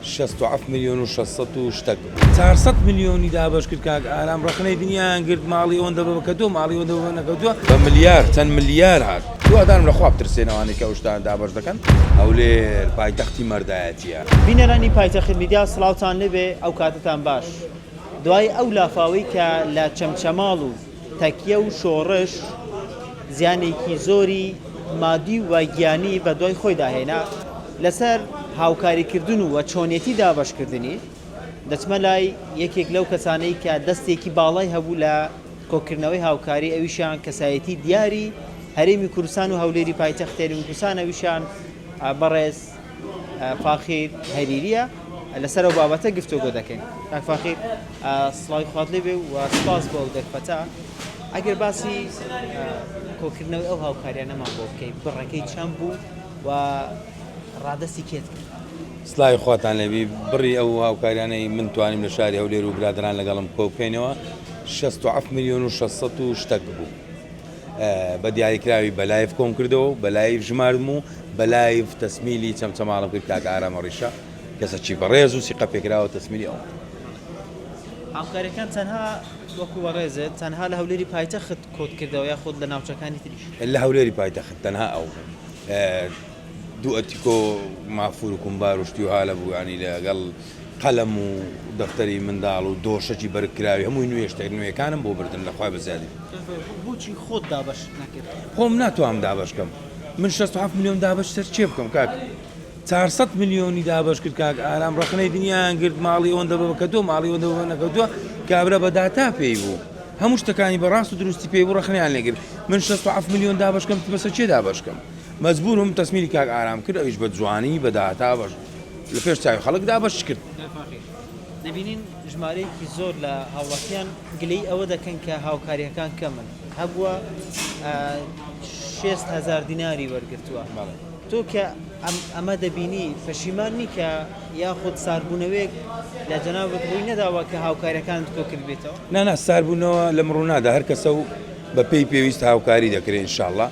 شەست و حەفت ملیۆن و شەش سەد و شتەک. چار سەد ملیۆنی دابەش کرد کاک ئارام ڕەخنەی دنیایان گرت ماڵی ئەوەندە بە کەتووە ماڵی ئەوەندە بە نەکەوتووە. بە ملیار چەند ملیار هات. هیوادارم لە خوا بترسێن ئەوانەی کە ئەو شتانە دابەش دەکەن. هەولێر پایتەختی مەردایەتیە. بینەرانی پایتەخت میدیا سڵاوتان لێبێ ئەوکاتەتان باش دوای ئەو لافاوەی کە لە چەمچەماڵ و تەکیە و شۆڕش زیانێکی زۆری مادی و گیانی بەدوای خۆیدا هێنا، لەسەر هاوکاریکردن و چۆنێتی دابەشکردنی دەچمە لای یەکێک لەو کەسانەی کە دەستێکی باڵای هەبوو لە کۆکردنەوەی هاوکاری ئەویشیان کەسایەتی دیاری هەرێمی کوردستان و هەولێری پایتەخت هەرێمی کوردستان ئەویشیان بەڕێز فاخیر هەریریە لەسەر ئەو بابەتە گفتوگۆ دەکەین کاک فاخیر سڵاوی خوات لێ بێ و سپاس بۆ ئەو دەرفەتە ئەگەر باسی کۆکردنەوەی ئەو هاوکاریانەمان بۆ بکەین بڕەکەی چەند بوو و ڕادستی کێت سلای خواتان لەبی بڕی ئەو هاوکاریانەی من توانیم لە شاری هەولێر و برادران لەگەڵم کۆکەینەوە 6 میلیۆن و 600 شتەک بوو. بە دیاریکراوی بە لایڤ کۆم کردەوە و بە لایڤ ژماردم و بە لایڤ تەسمیلی چەمچەماڵم کرد کاکە ئارامە ڕیشە کەسەکی بەڕێز و سیقە پێکراوە تەسمیلی ئەوم کرد. هاوکاریەکان تەنها وەکو بەڕێزت تەنها لە هەولێری پایتەخت کۆت کردەوە یا خۆت لە ناوچەکانی تریش؟ لە هەولێری پایتەخت تەنها ئەو بوو دوو ئەتیکۆ مافور و کومبار و شتی وها لە بوو ینی لەگەڵ قەلەم و دەفتەری منداڵ و دۆشەکی بەرگ کراوی هەمووی نوێ شتە نوێکانم بۆ بردن لە خوای بەزیادی. بۆچی خۆت دابەشت نەکرد؟ خۆم ناتوانم دابەش کەم من شەست و حەفت ملیۆن دابەش سەر کێ بکەم کاک چار سەد ملیۆنی دابەش کرد کاک ئارام ڕەخنەی دنیایان گرت ماڵی ئەوەندە بە بەکەتۆ ماڵی ئەوەندە بە نەکەوتووە کابرا بە داتا پێی بوو هەموو شتەکانی بە ڕاست و دروستی پێی بوو ڕەخنەیان لێگر من شەست و حەفت ملیۆن دابەش کەم بەسە کێ دابەش کەم مەجبورم تەسمیری کاک ئارام کرد ئەویش بە جوانی بە داتا بەش لە پێش چاوی خەڵک دابەش کرد. دەبینین ژمارەیەکی زۆر لە هاوڵاتیان گلەی ئەوە دەکەن کە هاوکارییەکان کەمن، هەبووە شێست هەزار دیناری وەرگرتووە، تۆ کە ئەمە دەبینی پەشیمان نی کە یاخود ساردبوونەوەیەک لە جەنابت ڕووی نەداوە کە هاوکارییەکانت کۆ کردبێتەوە؟ نا نا ساردبوونەوە لەم ڕوونادا هەر کەسە و بەپێی پێویست هاوکاری دەکرێ ان شاء اللە.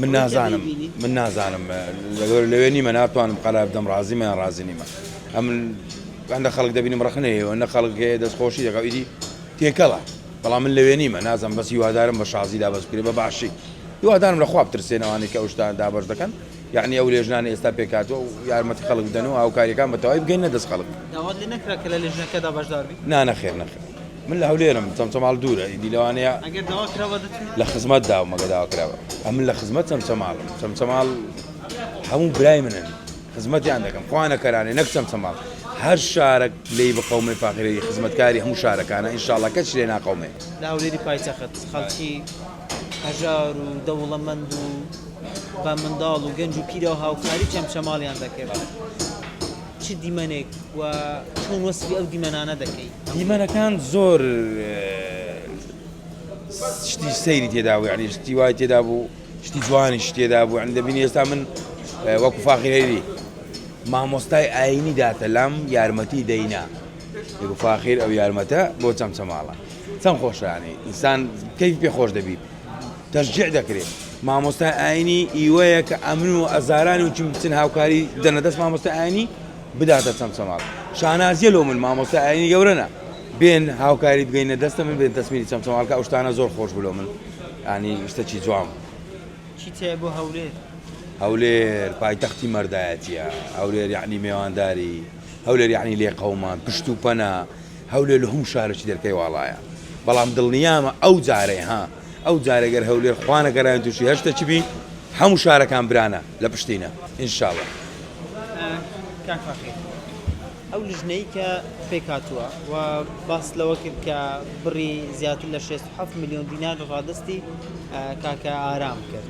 من نازانم من نازانم لەوێ نیمە ناتوانم قەرار بدەم ڕازیمە یان ڕازی نیمە ئەم هەندە خەڵک دەبینم ڕخنە هەیەوە نە خەڵک هەیە دەستخۆشی دەکە ئیدی تێکەڵە بەڵام من لەوێ نیمە نازم بەس هیوادارم بە شازی دابەز بکرێ بە باشی هیوادارم لە خواب ترسێنەوانی کە ئەوشتان دابەش دەکەن یعنی ئەو لێژنان ئێستا پێکاتەوە و یارمەتی خەڵک بدەن و هاوکاریەکان بە تەواوی بگەین نە دەست خەڵک نانەخێر نەخێر من لە هەولێرم چەمچەماڵ دوورە ئیدی لەوانەیە ئەگەر داوا کراوە دەچم لە خزمەت داوم ئەگەر داوا کراوە ئەمن لە خزمەت چەمچەماڵ چەمچەماڵ هەموو برای منن خزمەتیان دەکەم خوانە کەرانێ نەک چەمچەماڵ هەر شارەک لێی بقەومێ فاخرێری خزمەتکاری هەموو شارەکانە ئینشاڵە کەچ لێ ناقەومێ لە هەولێری پایتەخت خەڵکی هەژار و دەوڵەمەند و بە منداڵ و گەنج و پیرە هاوکاری چەمچەماڵیان دەکرد. چ دیمەنێک و چۆن وەسفی ئەو دیمەنانە دەکەی؟ دیمەنەکان زۆر شتی سەیری تێدا بوو یعنی شتی وای تێدا بوو شتی جوانیش تێدا بوو یعنی دەبینی ئێستا من وەکو فاخیرێری مامۆستای ئاینی داتە لام یارمەتی دەینا فاخیر ئەو یارمەتە بۆ چەمچەماڵە چەند خۆشیانی ئینسان کەی پێ خۆش دەبیت تەشجیع دەکرێ مامۆستای ئاینی ئیوەیە کە ئەمن و ئەزارانی و چیم بچن هاوکاری دەنە دەست مامۆستا ئاینی بداتە چەمچەماڵ شانازیە لۆ من مامۆستا ئاینی گەورەە بێن هاوکاری بگەینە دەستە من بێن دەستمیری چەمچەماڵکە ئەو شتانە زۆر خۆش بلۆ من ئانی شتەکی جوام چی تێ بۆ هەولێر هەولێر پایتەختی مەردایەتە هەولێر یعنی مێوانداری هەولێر یعنی لێ قەومان پشت و پەنا هەولێر لە هەموو شارەکی دەرکەی واڵایە بەڵام دڵنیامە ئەو جارەی ها ئەو جارەی گەر هەولێر خوا نەگەراین تووشی هەر شتەکی بی هەموو شارەکان برانە لە پشتینە ان شاء اللە. کاک فاخیر ئەو لژنەی کە پێکهاتووە و باست لەوە کرد کە بڕی زیاتر لە شێست و حەفت ملیۆن دینار ڕادەستی کاکە ئارام کرد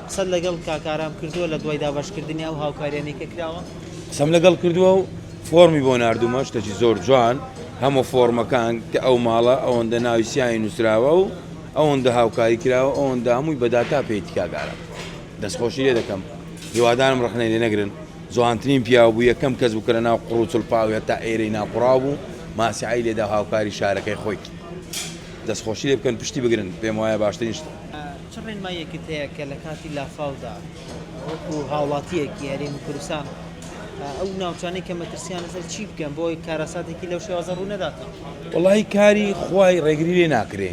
قسەت لەگەڵ کاکە ئارام کردووە لە دوای دابەشکردنی ئەو هاوکارییانەی کە کراوە؟ قسەم لەگەڵ کردووە و فۆرمی بۆ ناردومە شتەکی زۆر جوان هەموو فۆرمەکان کە ئەو ماڵە ئەوەندە ناوی سیانی نووسراوە و ئەوەندە هاوکاری کراوە ئەوەندە هەمووی بەداتا پێی تکاگارە دەستخۆشی لێ دەکەم هیوادارم ڕخنەی لێ نەگرن جوانترین پیاو بوو یەکەم کەس بوو کە لە ناو قڕوچڵ پاوێ تا ئێرەی ناقڕاو بوو ماسیعی لێدا هاوکاری شارەکەی خۆی دەستخۆشی لێ بکەن پشتی بگرن پێم وایە باشترین شت چ ڕێنماییەکت هەیە کە لە کاتی لافاودا وەکو هاوڵاتیەکی هەرێمی کوردستان ئەو ناوچانەی کە مەترسیان لەسەر چی بکەن بۆی کارەساتێکی لەو شێوازە ڕوو نەدات وڵی کاری خوای ڕێگری لێ ناکرێ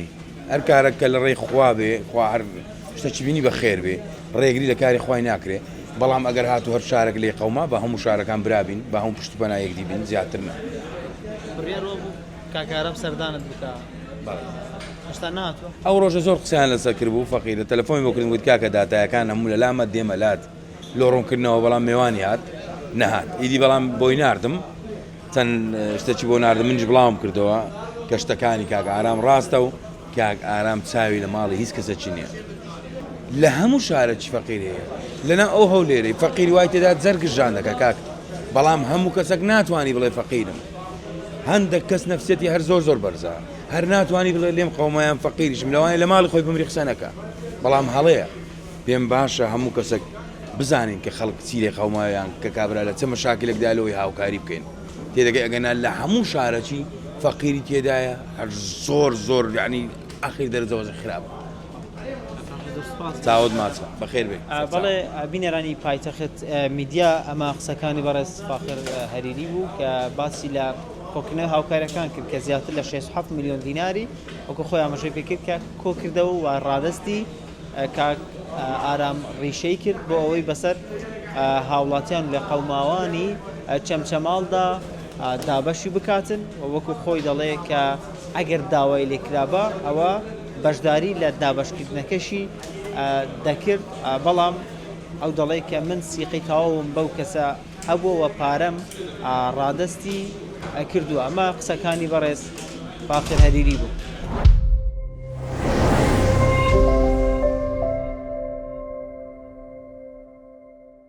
هەر کارەکە لە ڕێی خوا بێ خوا هەر شتەکی بینی بە خێر بێ ڕێگری لە کاری خوای ناکرێ بەڵام ئەگەر هاتو هەر شارێک لێ قەوما بە هەموو شارەکان برابین بە هەموو پشتپەنا یەکدیبین زیاتر کاک ئارام سەردانت بکا هێشتا ناتوە. ئەو ڕۆژە زۆر قسەیان لەسەر کرد بوو فەقیرە تەلەفۆنی بۆ کردم گوت کاکە داتایەکان هەموو لە لامە دێمە لات لۆ ڕوونکردنەوە بەڵام مێوانی هات نەهات ئیدی بەڵام بۆی ناردم چەند شتەکی بۆ ناردم منیش بڵاوم کردەوە کە شتەکانی کاک ئارام ڕاستە و کاک ئارام چاوی لە ماڵی هیچ کەسەکی نییە لە هەموو شارەکی فەقیر هەیە لەنا ئەو هەولێرەی فەقیر وای تێدا جەرگژان دەکە کاک بەڵام هەموو کەسەک ناتوانانی بڵێ فەقیرم هەندەک کەس نەفسیەتی هەر زۆر زۆر بەرزە هەر ناتوانی بڵێ لێم قەوما یان فەقیریشم لەوانەیە لە ماڵی خۆی بمری قسە نەکا بەڵام هەڵەیە پێم باشە هەموو کەسێک بزانین کە خەڵک چی لێ قەومایان کە کابرا لە چە مەشاکلێکدا لەوەی هاوکاری بکەین تێدەگەی ئەگەنا لە هەموو شارەکی فەقیری تێدایە هەر زۆر زۆر یعنی ئاخیر دەرەجە وەزع خراپە چاوت ماچە بەخێر بێی. بەڵێ بینەرانی پایتەخت میدیا ئەمە قسەکانی بەڕێز فاخر هەریری بوو کە باسی لە کۆکردنەوەی هاوکارەکان کرد کە زیاتر لە شێست حەفت ملیۆن دیناری وەکو خۆی ئاماژەی پێکرد کە کۆکردەوە و ڕادەستی کاک ئارام ڕیشەی کرد بۆ ئەوەی بەسەر هاوڵاتیان لە قەوماوانی چەمچەماڵدا دابەشی بکاتن و وەکو خۆی دەڵێ کە ئەگەر داوای لێکرابا ئەوە بەشداری لە دابەشکردنەکەشی دەکرد، بەڵام ئەو دەڵێت کە من سیقەی تەواوم بەو کەسە هەبووە و پارەم ڕادەستی کردووە. ئەمە قسەکانی بەڕێز باقر هەریری بوو.